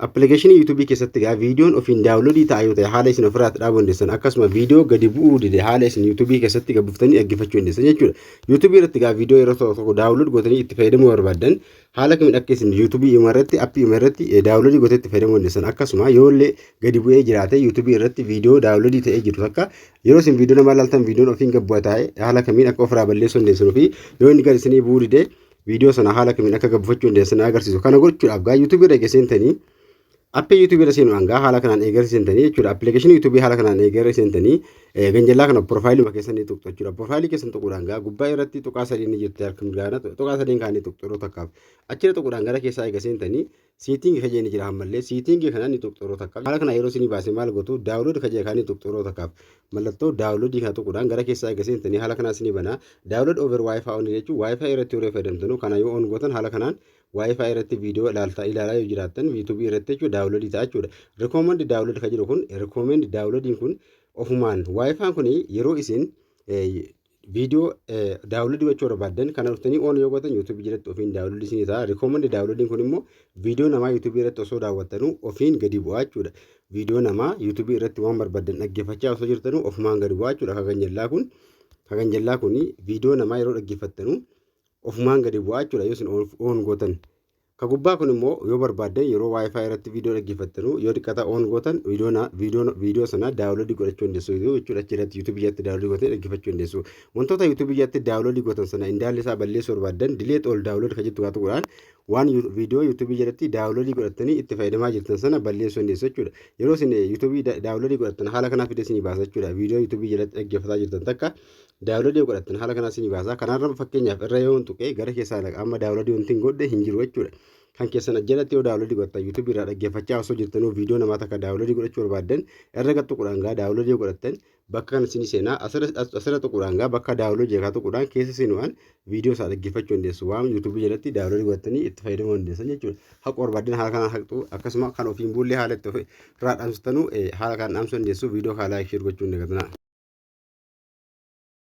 Appilikeeshinii YouTube keessatti egaa viidiyoon ofiin daawunloodii ta'a yoo ta'e haala isin ofirraa itti dhaabuu dandeessan akkasuma viidiyoo gadi bu'uu dide haala isin YouTube keessatti gad buuftanii dhaggeeffachuu dandeessan jechuudha. YouTube irratti egaa viidiyoo yeroo tokko tokko daawunlood gootanii itti fayyadamuu barbaaddan haala kamiin akka isin YouTube ima irratti appii ima irratti daawunloodii gootee itti fayyadamuu dandeessan akkasuma yoo illee gadi bu'ee jiraate YouTube irratti viidiyoo daawunloodii ta'ee jiru takka yeroo isin viidiyoo namaa ilaaltan viidiyoon ofiin gad bu'a taa'e haala kamiin akka ofirraa balleessuu dandeessan fi yoo inni gad isinii bu'uu dide viidiyoo sana haala kamiin akka gabbifachuu dandeessan agarsiisu. Kana gochuudhaaf gaa YouTube irra eegee seentanii appii YouTube irra seenuudhaan gaa haala kanaan eegarri seentanii jechuudha. Appilikeeshinii YouTube haala kanaan eegarri seentanii ganjallaa kana piroofaayiluma keessan ni tuqxu jechuudha. Piroofaayilii keessan tuquudhaan gaa gubbaa irratti tuqaa sadiin ni jirti harka mirgaana tuqaa sadiin kaanii tuqxu yeroo takkaaf. Achirra tuquudhaan gara keessaa eega seentanii Setting ka jeeni jira hammallee setting kana ni tuqxu yeroo takkaaf haala kana yeroo isinii baase maal gootu download ka jee kana ni tuqxu yeroo takkaaf mallattoo download kana tuquudhaan gara keessaa eega seentanii haala kanaa isinii banaa download over wifi on jechuun wifi irratti yeroo fayyadamtanu kana yoo on gootan haala kanaan wifi irratti viidiyoo ilaaltaa ilaalaa yoo jiraattan youtube irratti jechuudha download ta'a jechuudha recommend download ka jedhu kun recommend downloadiin kun ofumaan wifi kun yeroo isin Viidiyoo daawunloodii gochuu barbaaddan kana dhuftanii oon yoo gootan yuutuubii jalatti ofiin daawunloodii isinii ta'a. Rikoomandi daawunloodiin kun immoo viidiyoo namaa yuutuubii irratti osoo daawwattanuu ofiin gadi bu'aa jechuudha. Viidiyoo namaa yuutuubii irratti waan barbaaddan dhaggeeffachaa osoo jirtanuu ofumaan gadi bu'aa jechuudha. Kakan jallaa kun kakan jallaa kun viidiyoo namaa yeroo dhaggeeffattanuu ofumaan gadi bu'aa jechuudha yoo isin oon gootan. Ka gubbaa kun immoo yoo barbaaddan yeroo wifi irratti viidiyoo dhaggeeffattanu yoo xiqqata on gootan viidiyoo na- viidiyoo viidiyoo sana daawunloodii godhachuu dandeessu jechuudha achi irratti yuutuubii jalatti daawunloodii gootanii dhaggeeffachuu dandeessu. Wantoota yuutuubii jalatti daawunloodii gootan sana indaalli isaa balleessuu barbaaddan dileet ol daawunlood ka jettu gaatu godhaan waan yu- viidiyoo yuutuubii jalatti daawunloodii godhattanii itti fayyadamaa jirtan sana balleessuu dandeessu jechuudha. Yeroo isin eh, yuutuubii da- daawunloodii godhattan haala kanaa fidee isinii baasa jechuudha. Viidiyoo yuutuubii jalatti dhaggeeffataa jirtan takka Daawunloodii yoo godhattan haala kanaa isinii baasa. Kanarra fakkeenyaaf irra yoon tuqee gara keessaa dhaqa amma daawunloodii wanti hin godhe hin jiru jechuudha. Kan keessan ajjalatti yoo daawunloodii godhattan YouTube irraa dhaggeeffachaa osoo jirtanuu viidiyoo namaa takka daawunloodii godhachuu barbaaddan irra gad tuquudhaan gaa daawunloodii yoo godhattan bakka kana isinii seenaa asirra tuquudhaan gaa bakka daawunloodii jeekaa tuquudhaan keessa seenuudhaan viidiyoo isaa dhaggeeffachuu dandeessu waan yuutuubii jalatti daawunloodii godhattanii itti fayyadamuu dandeessan jechuudha. Haquu barbaaddan haala kanaan haqxu akkasuma kan ofiin buullee haala itti ofi irraa dhaamsittanu haala kanaan dhaamsuu dandeessu viidiyoo kaa laayik sheer gochuu hin dagatinaa.